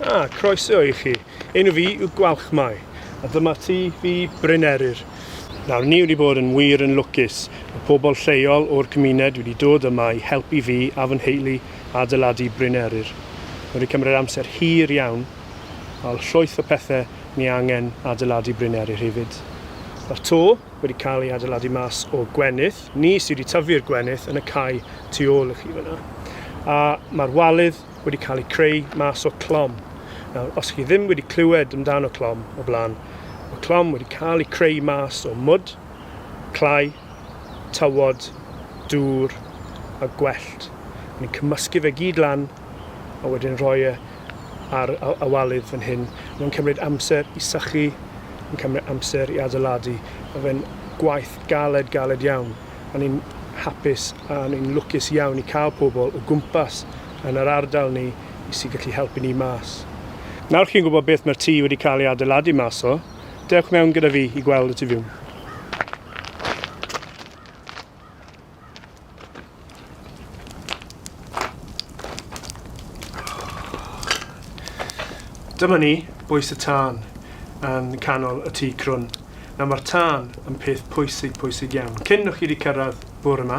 A, croeso i chi. Enw fi yw Gwalchmai, a dyma ti fi Bryn Eryr. Nawr, ni wedi bod yn wir yn lwcus. Mae pobl lleol o'r cymuned wedi dod yma i helpu fi a fy nheulu adeiladu Bryn Eryr. Mae wedi cymryd amser hir iawn, a llwyth o pethau ni angen adeiladu Bryn Eryr hefyd. Mae'r to wedi cael ei adeiladu mas o gwenith, ni sydd wedi tyfu'r gwenith yn y cae tu ôl i chi fyna. A mae'r walydd wedi cael ei creu mas o clom. Nawr, os chi ddim wedi clywed amdano clom o blaen, mae clom wedi cael ei creu mas o mwd, clai, tywod, dŵr a gwellt. Ni'n cymysgu fe gyd lan a wedyn rhoi e ar y walydd fan hyn. Mae'n cymryd amser i sychu, yn cymryd amser i adeiladu. Mae fe'n gwaith galed, galed iawn. O'n i'n hapus a o'n i'n lwcus iawn i cael pobl o gwmpas yn yr ardal ni i sy'n gallu helpu ni mas. Nawr chi'n gwybod beth mae'r tŷ wedi cael ei adeiladu mas o, dewch mewn gyda fi i gweld y tu fiwn. Dyma ni, Bwys y Tân, yn canol y tŷ crwn. Nawr mae'r tân yn peth pwysig, pwysig iawn. Cyn o'ch chi wedi cyrraedd bwr yma,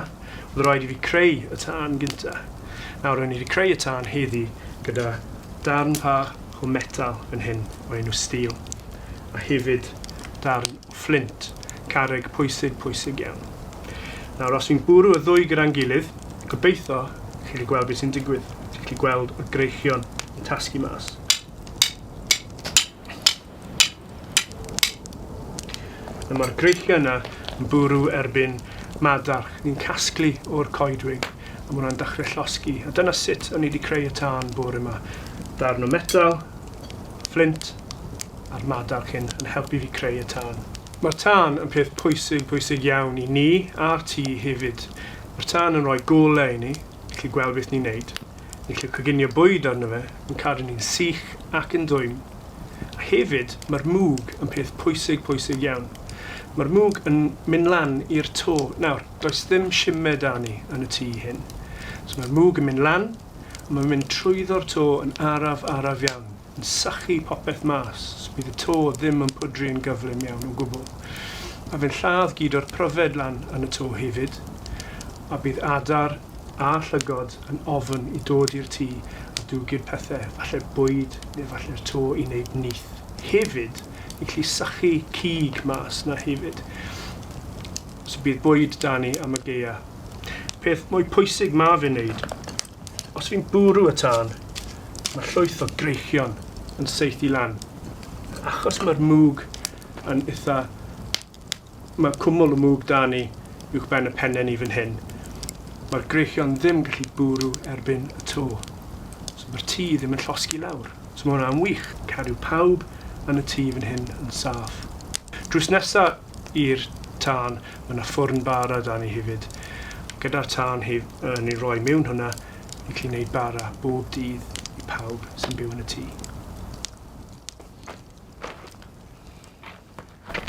oedd rhaid i fi creu y tân gynta. Nawr rwy'n i wedi creu y tân heddi gyda darn fach o metal yn hyn o enw steel. A hefyd darn Fflint. Carreg pwysig, pwysig iawn. Nawr, os fi'n bwrw y ddwy gyda'n gilydd, gobeitho chi'n gallu gweld beth sy'n digwydd. Chi'n gallu gweld y greichion yn tasgu mas. A mae'r greichion yna yn bwrw erbyn madarch. Ni'n casglu o'r coedwig, a mae hwnna'n dechrau llosgi. A dyna sut o'n i wedi creu y tân bore yma. Darn o metal, fflint, a'r madarch hyn yn helpu fi creu y tân. Mae'r tân yn peth pwysig, pwysig iawn i ni a'r tŷ hefyd. Mae'r tân yn rhoi golau i ni, ni'n gallu gweld beth ni'n neud, ni'n gallu coginio bwyd arno fe, yn cadw ni'n sych ac yn dwym. A hefyd, mae'r mwg yn peth pwysig, pwysig iawn. Mae'r mwg yn mynd lan i'r to. Nawr, does ddim simed 'da ni yn y tŷ hyn. So mae'r mwg yn mynd lan, a mae'n mynd trwyddo'r to yn araf, araf iawn. yn sychu popeth mas, so bydd y to ddim yn pwdru yn gyflym iawn o gwbl. Mae fe'n lladd gyd o'r pryfed lan yn y to hefyd, a bydd adar a llygod yn ofn i dod i'r tŷ a dwgyd pethe, falle bwyd neu falle'r to i wneud nyth. Hefyd, ni'n gallu sychu cig mas 'na hefyd, so bydd bwyd 'da ni am y gaeaf. Peth mwy pwysig ma fe'n wneud Os fi'n bwrw y tân, mae llwyth o greichion yn saethu lan. Achos mae'r mwg yn eitha... Mae cwmwl y mwg da ni uwch ben y penne ni fan hyn. Mae'r greichion ddim gallu bwrw erbyn y to. So mae'r tŷ ddim yn llosgi lawr. So mae hwnna'n wych. Cadw pawb yn y tŷ fan hyn yn saff. Drws nesa i'r tân, mae yna ffwrn bara da ni hefyd, gyda'r tân hef, uh, ni'n rhoi mewn hwnna i chi wneud bara bob dydd i pawb sy'n byw yn y tŷ.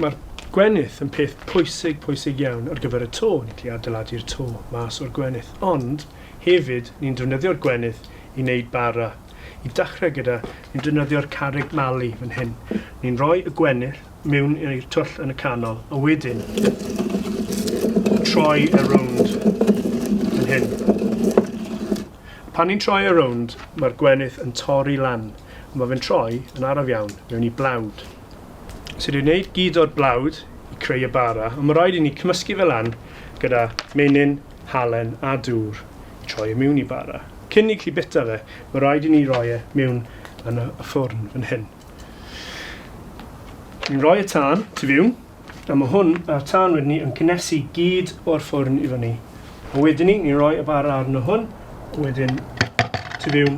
Mae'r gwenith yn peth pwysig, pwysig iawn ar gyfer y to. Ni'n gallu adeiladu'r to mas o'r gwenith. Ond hefyd, ni'n defnyddio'r gwenith i wneud bara. I dechrau gyda, ni'n defnyddio'r carreg mali fan hyn. Ni'n rhoi y gwenith mewn i'r twll yn y canol, a wedyn troi e rownd yn hyn. Pan ni'n troi e rownd, mae'r gwenith yn torri lan, a mae fe'n troi yn araf iawn mewn i blawd. So dwi'n gwneud gyd o'r blawd i creu y bara, ond mae rhaid i ni cymysgu fe lan gyda menyn, halen a dŵr i troi e mewn i bara. Cyn i chi bita fe, mae rhaid i ni roi e mewn yn y ffwrn fan hyn. Ni'n rhoi y tân tu fiwn, a ma hwn a'r tân wedyn ni yn cynnesu gyd o'r ffwrn i fyny. A wedyn ni, ni'n rhoi y bara arno hwn, a wedyn tu fiwn,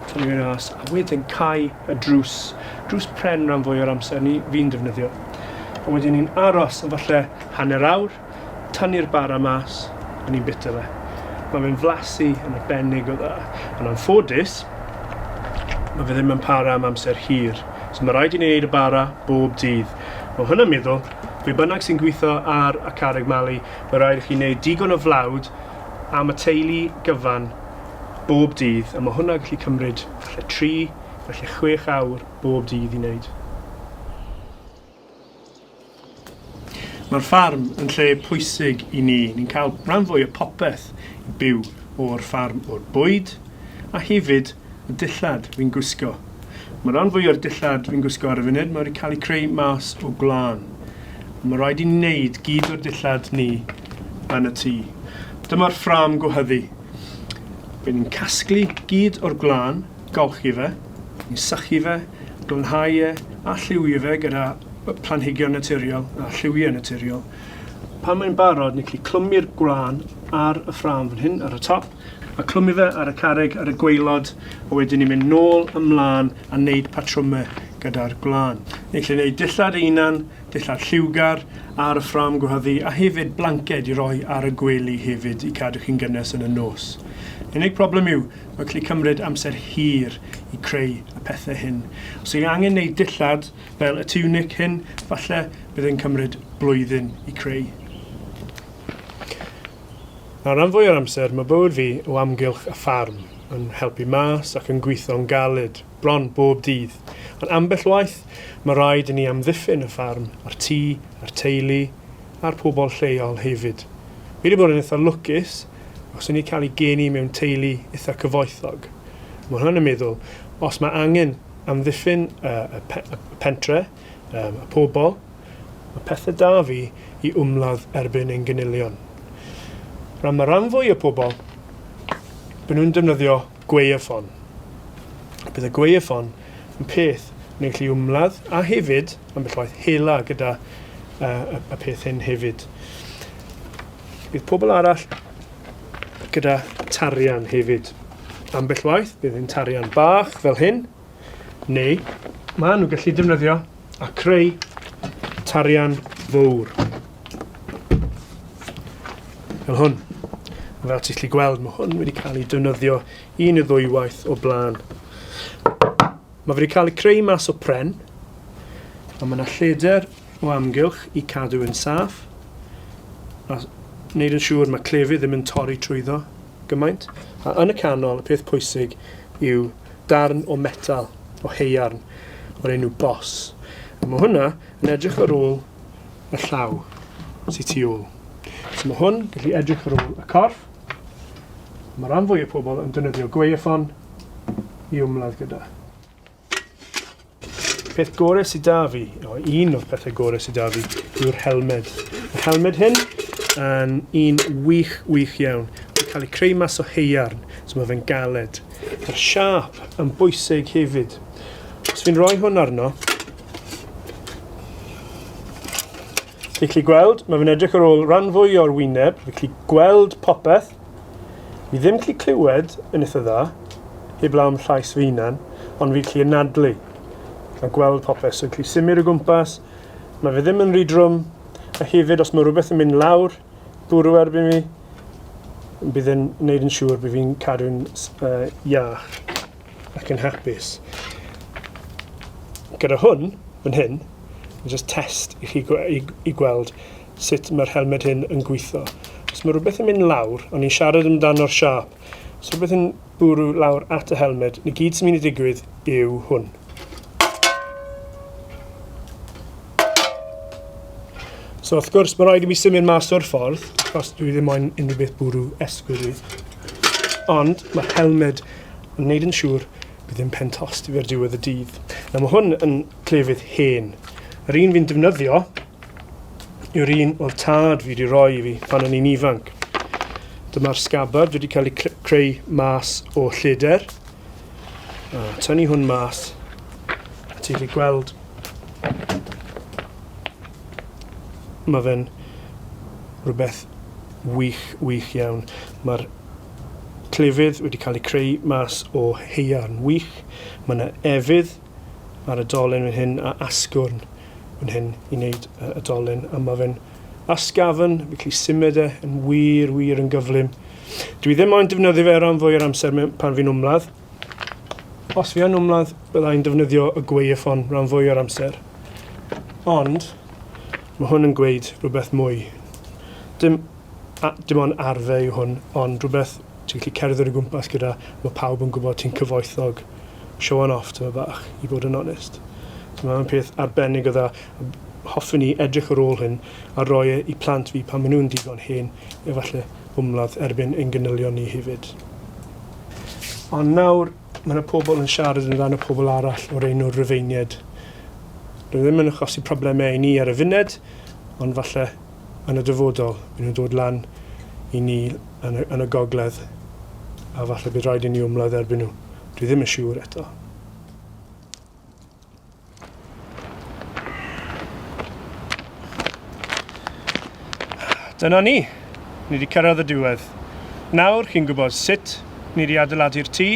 tu fiwn as, a wedyn cau y drws, drws pren ran fwy o'r amser ni fi'n defnyddio. A wedyn ni'n aros am falle hanner awr, Tynnu'r bara mas, a ni'n bita fe. Mae fe'n flasu yn arbennig o dda, ond anffodus, mae fe ddim yn para am amser hir. So mae rhaid i ni wneud y bara bob dydd. Mae hwnna'n meddwl, be bynnag sy'n gweithio ar y carreg mali, mae rhaid i chi wneud digon o flawd am y teulu gyfan bob dydd, a mae hwnna gallu cymryd falle 3, falle 6 awr bob dydd i wneud. Mae'r ffarm yn lle pwysig i ni. Ni'n cael rhan fwy o popeth i byw o'r ffarm, o'r bwyd a hefyd y dillad fi'n gwisgo. Mae rhan fwy o'r dillad fi'n gwisgo ar y funud, mae wedi cael ei creu mas o gwlân. Mae rhaid i ni wneud gyd o'r dillad ni yn y tŷ. Dyma'r ffram gwehyddu. Bydd ni'n casglu gyd o'r gwlân golchi fe, i sychu fe, glanhau e a lliwio fe gyda planhigion naturiol a lliwiau naturiol. Pan mae'n barod, ni'n gallu clymu'r gwlân ar y ffrâm fan hyn ar y top a clymu fe ar y carreg ar y gwaelod a wedyn ni'n mynd nôl ymlaen a wneud patrwmau gyda'r gwlân. Ni'n gallu gwneud dillad einan, dillad lliwgar ar y ffrâm gwehyddu a hefyd blanced i roi ar y gwely hefyd i cadw chi'n gynnes yn y nos. Unig problem yw, Mae'n gallu cymryd amser hir i creu y pethau hyn. Os ydych chi'n angen gwneud dillad fel y tiwnic hyn, falle bydd yn cymryd blwyddyn i creu. Nawr, rhan fwy o'r amser, mae bywyd fi o amgylch y ffarm, yn helpu mas ac yn gweithio'n galed, bron bob dydd. Ond ambell waith, mae rhaid i ni amddiffyn y ffarm a'r tŷ a'r teulu a'r pobl lleol hefyd. Fi wedi bod yn eitha' lwcus, os y'n ni cael ei geni mewn teulu itha cyfoethog, ma' hwnna'n y meddwl, os ma' angen amddiffyn y, y, pe, y pentre, um, y pobl, mae pethau da fi i wmladd erbyn ein gynilion. Rhan mae rhan fwy o pobl, byn nhw'n defnyddio Gwaywffon. Bydd y gwaywffon yn peth yn gallu ymladd a hefyd ambell waith hela gyda uh, y peth hyn hefyd. Bydd pobl arall gyda tarian hefyd. Ambell waith bydd hyn tarian bach fel hyn neu maen nhw'n gallu defnyddio a creu tarian fawr. Fel hwn. Fel ti'n gallu gweld, mae hwn wedi cael ei defnyddio un neu ddwywaith o blaen. Mae wedi cael ei creu mas o pren, a mae yna lleder o amgylch i cadw yn saff, a wneud yn siŵr mae clefyd ddim yn torri trwyddo gymaint. A yn y canol, y peth pwysig yw darn o metal, o heiarn, o'r enw bos. A mae hwnna yn edrych ar ôl y llaw sy'n tu ôl. So mae hwn gallu edrych ar ôl y corff. Mae rhan fwy o pobl yn dynyddio gweifon i ymladd gyda. Peth gore sy da fi, o, un o'r pethau gore sy da fi, yw'r helmed. Mae'r helmed hyn yn un wych, wych iawn. Mae'n cael ei creu mas o heiarn, so mae fe'n galed. Mae'r siap yn bwysig hefyd. Os fi'n rhoi hwn arno, Fi'n gallu gweld, mae fe'n edrych ar ôl rhan fwy o'r wyneb, fi'n gallu gweld popeth, Fi ddim gallu clywed yn eitha dda, heblaw am llais fy hunan, ond fi'n gallu anadlu a gweld popeth, so fi'n gallu symud o gwmpas, mae fe ddim yn rhy drwm, a hefyd os mae rhywbeth yn mynd lawr, bwrw erbyn fi, bydd yn gwneud yn siŵr bydd fi'n cadw'n uh, iach ac yn hapus. Gyda hwn, yn hyn, just test i chi i, i gweld sut mae'r helmed hyn yn gwitho. Os mae rhywbeth yn mynd lawr, o'n i'n siarad amdano'r siâp, os rhywbeth yn bwrw lawr at y helmed, ni gyd sy'n mynd i ddigwydd yw hwn. So wrth gwrs, mae rhaid i mi symud mas o'r ffordd, achos dwi ddim moyn unrhyw beth bwrw esgwyl i. Ond mae helmed yn wneud yn siŵr bydd ddim pen tost i fe'r diwedd y dydd. Nawr mae hwn yn clefyd hen. Yr un fi'n defnyddio yw'r un oedd tad fi wedi rhoi i fi pan o'n i'n ifanc. Dyma'r sgabard wedi cael ei creu mas o lleder. A tynnu hwn mas. A ti'n gallu gweld mae fe'n rhywbeth wych, wych iawn. Mae'r clefydd wedi cael ei creu mas o heiarn wych. Mae yna efydd ar y dolen fan hyn a asgwrn. fan hyn i wneud y dolen a mae fe'n asgafn, fi'n gallu symud e yn wir, wir yn gyflym. Dwi ddim moyn defnyddio fe ran fwy o'r amser pan fi'n wmladd. Os fi yn wmladd, byddai'n defnyddio y gweifon ran fwy o'r amser. Ond, mae hwn yn gweud rhywbeth mwy. Dim A dim ond arfer yw hwn, ond rhywbeth ti'n gallu cerdded o gwmpas gyda, mae pawb yn gwybod ti'n cyfoethog, showan off tyma' bach, i fod yn onest. So mae'n peth arbennig o dda, a hoffen ni edrych ar ôl hyn a roi e i plant fi pan maen nhw'n digon hen, efallai ymladd erbyn ein ganylion ni hefyd. Ond nawr, mae yna pobl yn siarad yn dan y pobl arall o'r enw Rufeiniaid. Dwi ddim yn achosi problemau i ni ar y funed, ond falle yn y dyfodol, bydden nhw'n dod lan i ni yn y, yn y gogledd, a falle bydd rhaid i ni ymladd erbyn nhw. Dwi ddim yn siŵr eto. Dyna ni. Ni wedi cyrraedd y diwedd. Nawr, chi'n gwybod sut ni wedi adeiladu'r tŷ,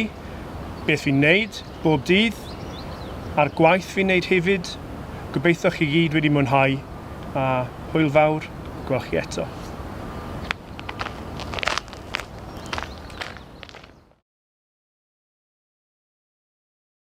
beth fi'n neud, bob dydd, a'r gwaith fi'n neud hefyd, gobeitho chi gyd wedi mwynhau, a hwyl fawr gwel chi eto.